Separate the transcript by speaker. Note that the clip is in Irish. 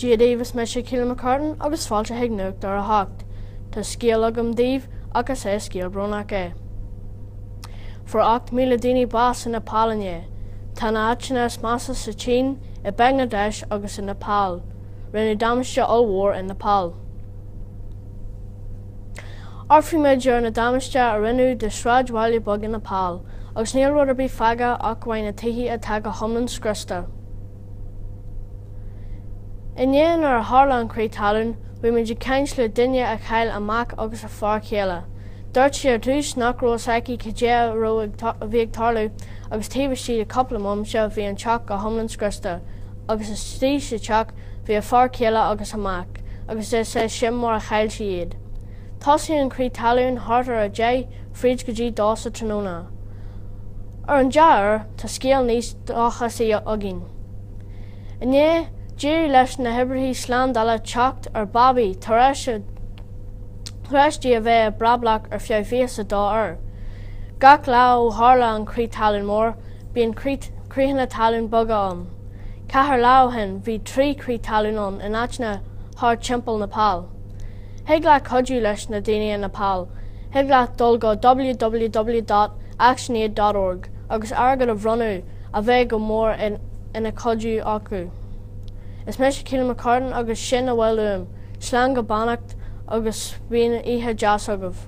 Speaker 1: Dia daoibh is mise Ciana McCartan agus fáilte chuig nuacht ar a hocht. Tá scéal agam daoibh ach is scéal brónach é. Fuair 8,000 daoine bás in Nepal inné. Tá na áiteanna is measa sa tSín, i mBangladesh agus in Nepal. Rinneadh damáiste ollmhór in Nepal. Tarraing méid an damáiste a rinneadh de sráidbhaile beaga Nepal agus níl rud ar bith fágtha ach amháin na tithe atá go hiomlán scriosta. Inné nuair a tharla an crith talún, bhí muid ag caint le duine a chaill a mac agus a fear céile. Dúirt sí ar dtús nach raibh fhios aici cad é a raibh, a bhí ag tarlú agus taobh istigh de cúpla bomaite bhí an teach go hiomlán scriosta agus istigh sa teach bhí a fear céile agus a mac agus is é sin mar a chaill sí iad. Thosaigh an crith talún thart ar a deich fríd go dtí dó sa tráthnóna. Ar an dea-uair, tá scéal níos dóchasaí againn. Inné, d'éirigh leis na hoibrithe slándála teacht ar babaí tar éis di a bheith i mbrablach ar feadh 22 uair. Gach lá ó tharla an crith talún mór, bíonn critheanna talún beaga ann. Ceithre lá ó shin bhí trí chrith talún ann in áiteanna thart timpeall Nepal. Thig leat cuidiú leis na daoine i Nepal, thig leat dul go www dot actionaid dot org agus airgead a bhronnadh a bheidh go mór ina chuidiú acu. Is mise Ciana McCartan agus sin a bhfuil uaim, slán go beannacht agus bíodh oíche deas agaibh.